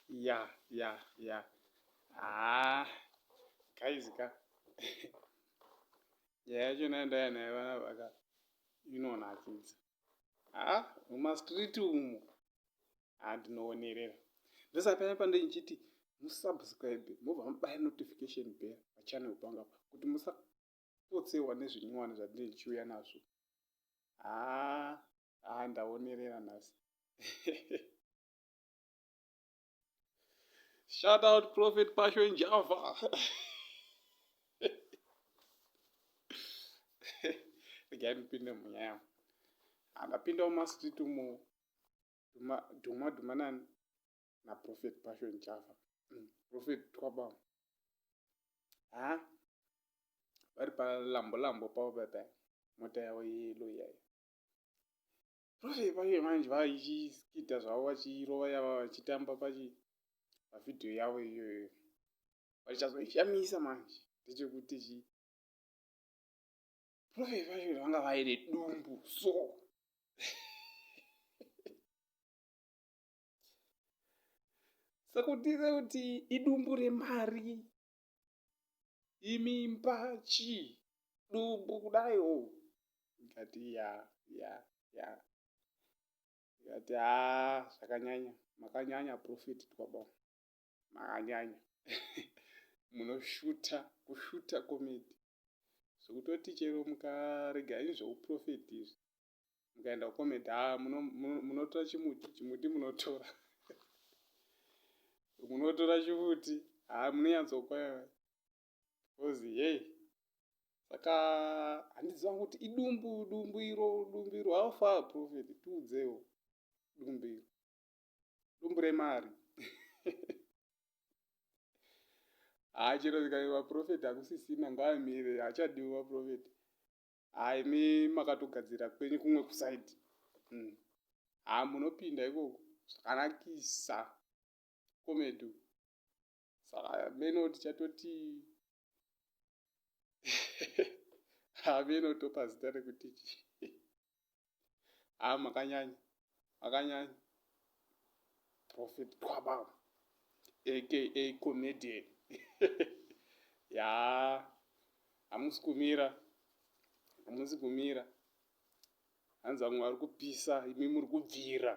ya ya ya ah guys ka nyaya yacho nayo ndaya nayo vana vaka inonakidza ah mumastreet umu andinoonerera ndosapaya pande ndichiti musubscribe mobva mubaya notification bell pachannel panga pa kuti musa kupotsehwa nezvinyowani zvandinenge ndichiuya nazvo haa haa ndaonerera nhasi shout out prophet pasho njava regai ndipinde munyaya yangu handapindawo mastreet umo dhuma dhuma nani na prophet passion chafa umm prophet twaba haa vari pa lambo lambo pavo pepe mota yavo yeyelo iyayo profe paye manje vachiskita zvavo vachirova yava vachitamba pachi pavhidhiyo yavo iyoyo vachazoishamisa manje ndechekuti chi profe paye vanga vaine dumbu so sekutize kuti idumbu remari imimba chii dumbu kudai o oh. ndikati ya ya ya ndikati ha zvakanyanya makanyanya profeti twaba makanyanya munoshuta kushuta komedi zvekutoti chero mukarega ini zveuprofeti izvi mukaenda kucomment ha ah, munotora chimuti chimuti munotora munotora chimuti ha ah, munonyatsopa because yei saka handiziva kuti idumbu dumbu iro dumbu iro how far profit tiudzewo dumbu iro dumbu remari haa chero zvikai vaprofeti hakusisina ngaamire hachadiwi vaprofeti haa imi makatogadzira kwenyu kumwe kusaidi mm. haa munopinda ikoko zvakanakisa komedu saka meno tichatoti hameno topa zita rekuti chii haa makanyanya makanyanya prophet twaba aka comedian yaa hamusi kumira hamusi kumira hanzi vamwe vari kupisa imi muri kubvira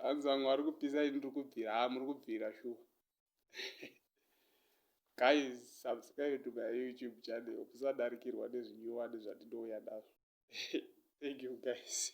hanzi vamwe vari kupisa imi muri kubvira haa muri kubvira shuwa guys subscribe to my youtube channel kusadarikirwa nezvinyowani zvandinouya nazvo thank you guys